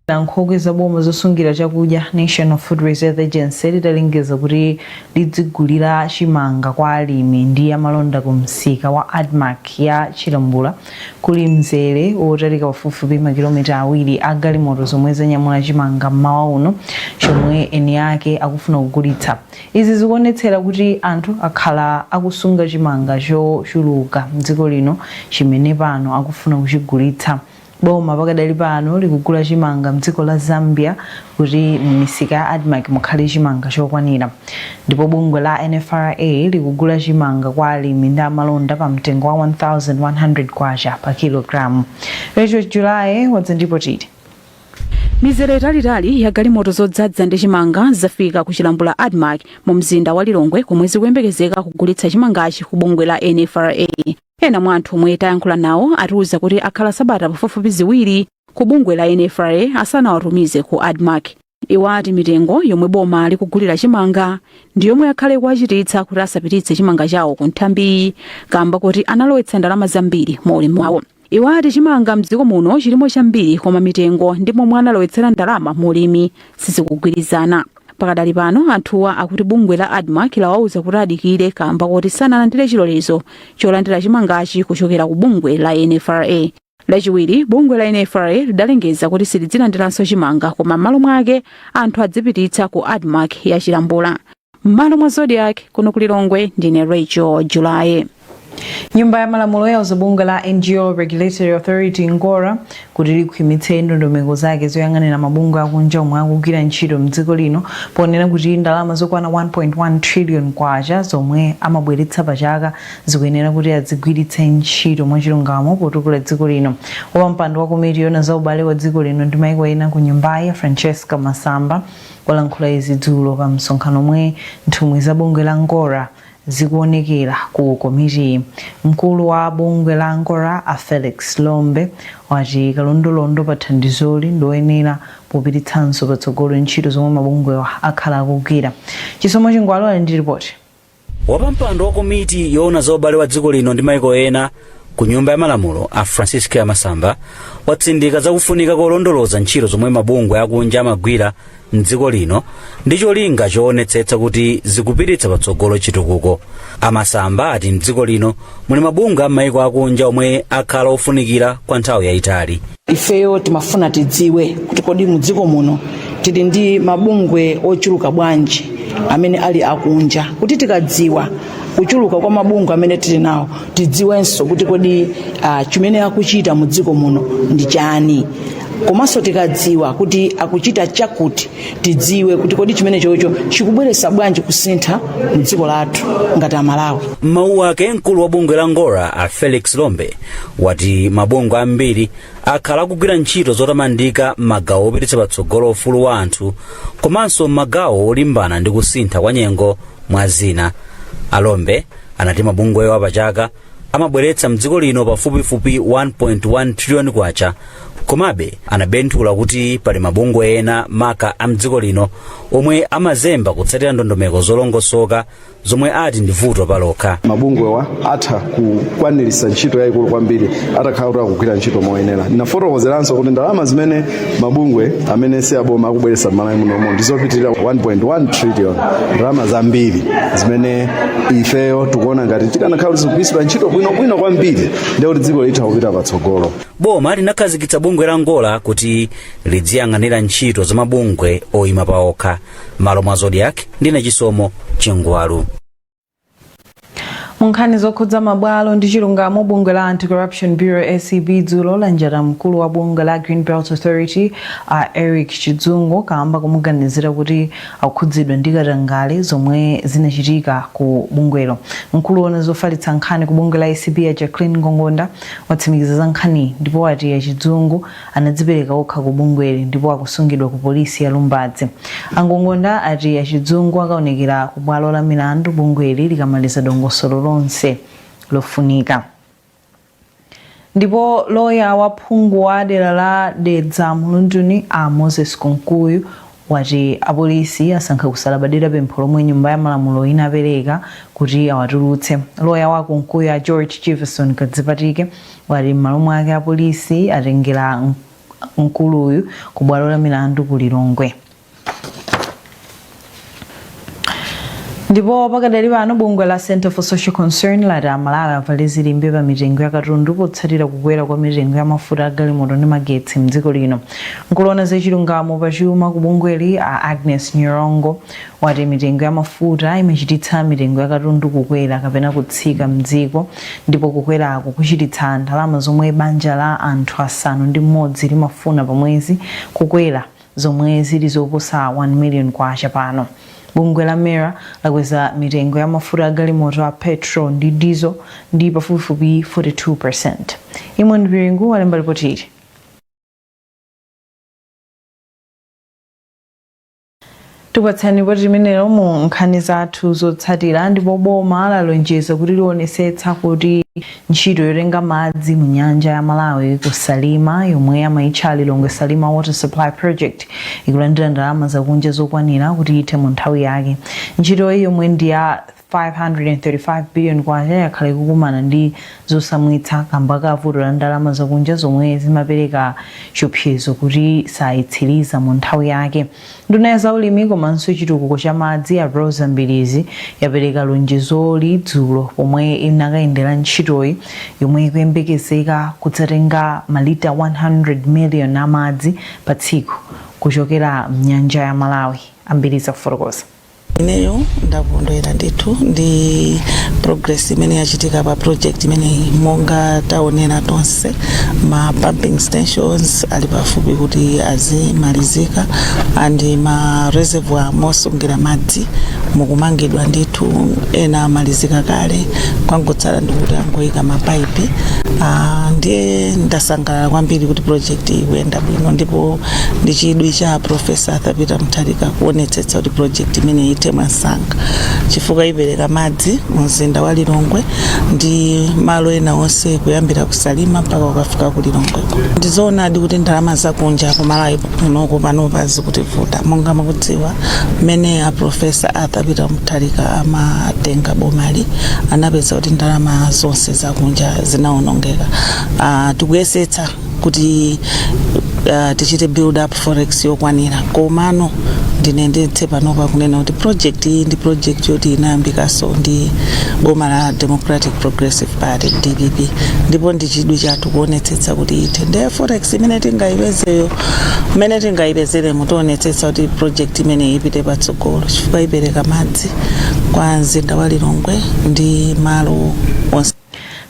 la nkhokwe za boma zosungira chakudya national food reserve agency lidalengeza kuti lidzigulira chimanga kwa alimi ndi amalonda ku msika wa admarc ya chilambula kuli mzere wotalika pafupifupi makilomita awiri a galimoto zomwe zanyamula chimanga mmawa uno chomwe eni ake akufuna kugulitsa Izi zikuonetsera kuti anthu akhala akusunga chimanga chochuluka mdziko lino chimene pano akufuna kuchigulitsa. Boma pakadali pano likugula chimanga mdziko la Zambia kuti mmisika ya Admarc mukhale chimanga chokwanira. Ndipo bungwe la NFRA likugula chimanga kwa alimi ndi amalonda pa mtengo wa K1100 pa kilogalamu. Rachel Julaye wadza ndi lipoti ili. Mizere italiitali ya galimoto zodzadza ndi chimanga zafika ku Chilambula Admarc mu mzinda wa Lilongwe komwe zikuyembekezeka kugulitsa chimangachi ku bungwe la NFRA. Ena mwa anthu omwe tayankhula nawo atiuza kuti akhala sabata pafupifupi ziwiri ku bungwe la NFRA asanawatumize ku Admarc. Iwo ati mitengo yomwe boma likugulira chimanga ndi yomwe yakhale kuwachititsa kuti asapititse chimanga chawo ku nthambiyi kamba kuti analowetsa ndalama zambiri mu ulimi wawo. Iwo ati chimanga mdziko muno chilimo chambiri koma mitengo ndi momwe analowetsera ndalama mu ulimi sizikugwirizana. Pakadali pano anthuwa akuti bungwe la Admarc lawauza kuti adikire kaamba koti sanalandire chilolezo cholandira chimangachi kuchokera ku bungwe la NFRA. Lachiwiri, bungwe la NFRA lidalengeza kuti silidzilandiranso chimanga koma mmalo mwake anthu adzipititsa ku Admarc ya Chilambula. m'malo mwa zodiak kuno ku lilongwe ndine rachel julaye nyumba ya malamulo yauza bungwe la ngo regulatory authority ngora kuti likhwimitse ndondomeko zake zoyang'anira mabungwe akunja omwe akugwira ntchito mdziko lino ponena kuti ndalama zokwana 1.1 trillion kwacha zomwe amabweretsa pachaka zikuyenera kuti azigwiritse ntchito mwachilungamo potukula dziko lino wapampando wa komiti yoona za ubale wa dziko lino ndi maiko ena ku nyumbayi francesca masamba walankhula izi dzulo pa msonkhano omwe nthumwi za bungwe la Ngora zikuonekera ku komitiyi. Mkulu wa bungwe la Ngora a Felix Lombe wati kalondolondo pa thandizoli ndioyenera popititsanso patsogolo ntchito zomwe mabungwewa akhala akugwira. Chisomo Chingwalu ali ndi lipoti. wapampando wa komiti yoona za ubale wa dziko lino ndi maiko ena ku nyumba ya malamulo a francesca masamba watsindika zakufunika kolondoloza ntchito zomwe mabungwe akunja amagwira mdziko lino ndi cholinga choonetsetsa kuti zikupititsa patsogolo chitukuko a masamba ati mdziko lino muli mabungwe a maiko akunja omwe akhala ofunikira kwa nthawi yayitali ifeyo timafuna tidziwe kuti kodi mu dziko muno tili ndi mabungwe ochuluka bwanji amene ali akunja kuti tikadziwa kuchuluka kwa mabungwe amene tili nawo tidziwenso kuti kodi uh, chimene akuchita mu dziko muno ndi chani komanso tikadziwa kuti akuchita chakuti tidziwe kuti kodi chimene chocho chikubweretsa bwanji kusintha mu dziko lathu ngati amalawi m'mawu ake mkulu wa bungwe la ngora a felix lombe wati mabungwe ambiri akhala akugwira ntchito zotamandika m'magawo opititsa patsogolo ufulu wa anthu komanso m'magawo olimbana ndi kusintha kwa nyengo mwa zina a lombe anati mabungwewa pachaka amabweretsa mdziko lino pafupifupi 1.1 triliyoni kwacha komabe anabenthula kuti pali mabungwe ena maka a mdziko lino omwe amazemba kutsatira ndondomeko zolongosoka zomwe ati ndi vuto palokha mabungwewa atha kukwaniritsa ntchito yayikulu kwambiri atakhala kuti akugwira ntchito moyenera ndinafotokozeranso kuti ndalama zimene mabungwe amene si aboma akubweretsa m'malawi munomo ndi zopitirira 1.1 trillion ndalama zambiri zimene ifeyo tikuona ngati zikanakhala kuti zikugwiritsidwa ntchito bwinobwino kwambiri ndiye kuti dziko litha kupita patsogolo boma linakhazikitsa bungwe la ngora kuti lidziyang'anira ntchito za mabungwe oyima paokha m'malo mwa zodiak ndine chisomo chingwalu mu nkhani zokhudza mabwalo ndi chilungamo bungwe la anti-corruption bureau acb dzulo lanjata mkulu wa bungwe la greenbelt authority a eric chidzungu kaamba komuganizira kuti akukhudzidwa ndi katangale zomwe zinachitika ku bungwelo mkulu woona zofalitsa nkhani ku bungwe la acb a jacqueline ngongonda watsimikiza za nkhaniyi ndipo wati a chidzungu anadzipereka okha ku bungweli ndipo akusungidwa ku polisi ya Lumbadzi. A Ngongonda ati a Chidzungu akaonekera ku bwalo la milandu bungweli likamaliza dongosolo lonse lofunika. Ndipo loya wa phungu wa dera la Dedza Mlunduni a Moses Kunkuyu wati apolisi asankha kusalabadira pempho lomwe Nyumba ya Malamulo inapereka kuti awatulutse. Loya wa a Kunkuyu a George Jivason Kadzipatike wati m'malo mwake apolisi atengera mkuluyu ku bwalo la milandu ku Lilongwe. Ndipo pakadali pano bungwe la Centre for Social Concern lati aMalawi avale zilimbe pa mitengo ya katundu potsatira kukwera kwa mitengo ya mafuta a galimoto ndi magetsi m'dziko lino. Mkulu woona za chilungamo pa chuma ku bungweli a Agnes Nyirongo wati mitengo ya mafuta imachititsa mitengo ya katundu kukwera kapena kutsika m'dziko ndipo kukweraku kuchititsa ndalama zomwe banja la anthu asanu ndi mmodzi limafuna pa mwezi kukwera. zomwe zili zoposa K1 million pano. Bungwe la MERA lakweza mitengo ya mafuta a galimoto a Petrol ndi Diesel ndi pafupifupi 42 percent. Eamon Piringu walemba lipoti ili. Tikupatsani lipoti limenelo mu nkhani zathu zotsatira ndipo boma lalonjeza kuti lionetsetsa kuti ntchito yotenga madzi mu nyanja ya Malawi ku Salima yomwe amaitcha Lilongwe Salima Water Supply Project ikulandira ndalama zakunja zokwanira kuti ithe mu nthawi yake. Ntchitoyi yomwe ndi ya K535 billion yakhala ikukumana ndi zotsamwitsa kamba ka vuto la ndalama zakunja zomwe zimapereka chiopsezo kuti sayitsiliza mu nthawi yake. Nduna ya zaulimi komanso chitukuko cha madzi a Roza Mbilizi yapereka lonjezoli dzulo pomwe inakayendera ntchitoyi yomwe ikuyembekezeka kudzatenga ma lita 100 million a madzi pa tsiku kuchokera mnyanja ya Malawi. A Mbilizi akufotokoza. ineyo ndakondwera ndithu ndi progress imene yachitika pa project imeneyi monga taonera tonse ma pumping stations ali pafupi kuti azimalizika and ma reservoir mosungira madzi mukumangidwa ndithu ena amalizika kale kwangotsala ndi kuti angoyika mapaipi uh, ndiye ndasangalala kwambiri kuti project ikuyenda bwino ndipo ndi chidwi cha Profesa Arthur Peter Mutharika kuonetsetsa kuti project imeneyi ithe mwansanga chifukwa ipereka madzi mu mzinda wa Lilongwe ndi malo ena onse kuyambira ku Salima mpaka ukafika ku Lilongwe. Ndizoonadi kuti ndalama zakunja ku Malawi kunoko panopa zikutivuta monga mukudziwa mmene a Profesa Arthur Peter Mutharika amatenga bomali anapeza kuti ndalama zonse zakunja zinaonongeka. Ah, tikuyesetsa kuti uh, tichite build up forex yokwanira komano ndinenetse panopa kunena kuti project iyi ndi project yoti inayambikaso ndi boma la democratic progressive party dpp ndipo ndi chidwi chathu kuonetsetsa kuti ithe nde forex imene tingayipezeyo imene tingayipezere mmo tionetsetsa kuti project imeneyi ipite patsogolo chifukwa ipereka madzi kwa mzinda wa lilongwe ndi malo onse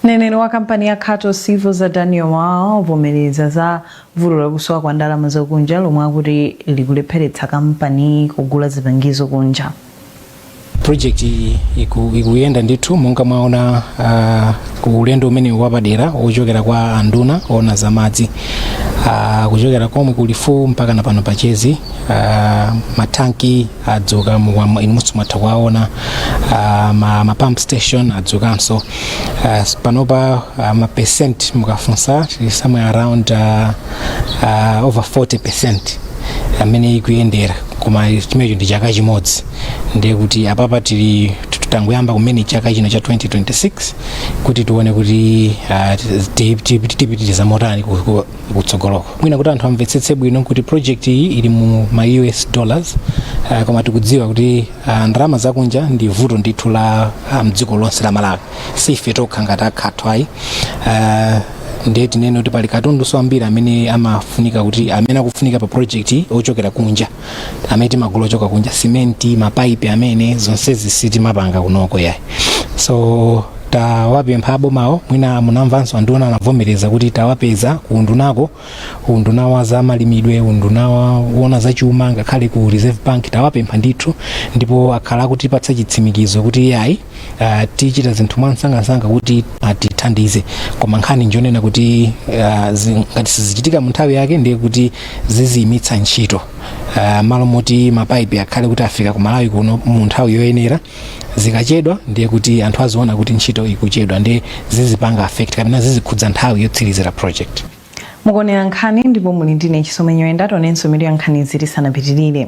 Mneneri wa kampani ya Khato Civils a Daniel Wawa wavomereza za vuto la kusowa kwa ndalama zakunja lomwe akuti likulepheretsa kampaniyi kugula zipangizo kunja. project iyi iku- ikuyenda ndithu monga mwaona ah, ku ulendo umene wapadera wochokera kwa anduna oona za madzi Ah, kuchokera komwe ku Lifuwu mpaka na pano pa Chezi ah, matanki adzuka mukwamo inunso mwatha kuwaona ah, ma, ma pump station adzukanso Ah, s- panopa ah, ma percent mukafunsa tili somewhere around ah, ah, over 40 percent amene ikuyendera koma chimenecho ndi chaka chimodzi ndiye kuti apapa tili tangoyamba kumene chaka chino cha 2026 kuti tione kuti ah, ti- ti- ti- tipitiriza motani ku- ku- kutsogoloko mwina kuti anthu amvetsetse bwino kuti project iyi ili mu ma us dollars uh, koma tikudziwa kuti uh, ndalama zakunja ndi vuto ndithu la uh, mdziko lonse la malawi si ife tokha ngati a khato ayi uh, ndiye tinene kuti pali katundu wambiri amene amafunika kuti amene akufunika pa project iyi ochokera kunja amene timagula ochoka kunja simenti mapaipi amene zonsezi sitimapanga kunoko yayi so tawapempha abomawo mwina munamvanso anduna anavomereza kuti tawapeza ku undunako unduna wa za malimidwe unduna wa- woona za chuma ngakhale ku reserve bank tawapempha ndithu ndipo akhala akutipatsa chitsimikizo kuti yayi uh, tichita zinthu mwansangansanga kuti atithandize koma nkhani njonena kuti uh, zi- ngati sizichitika mu nthawi yake ndiye kuti ziziyimitsa ntchito uh, malo moti mapaipi akhale kuti afika ku malawi kuno mu nthawi yoyenera zikachedwa ndiye kuti anthu aziona kuti ntchito ikuchedwa ndiye zizipanga affect kapena zizikhudza nthawi yotsirizira project mukuonera nkhani ndipo muli ndi ine chisomo nyirenda tionenso mitu ya nkhanizi tisanapitirire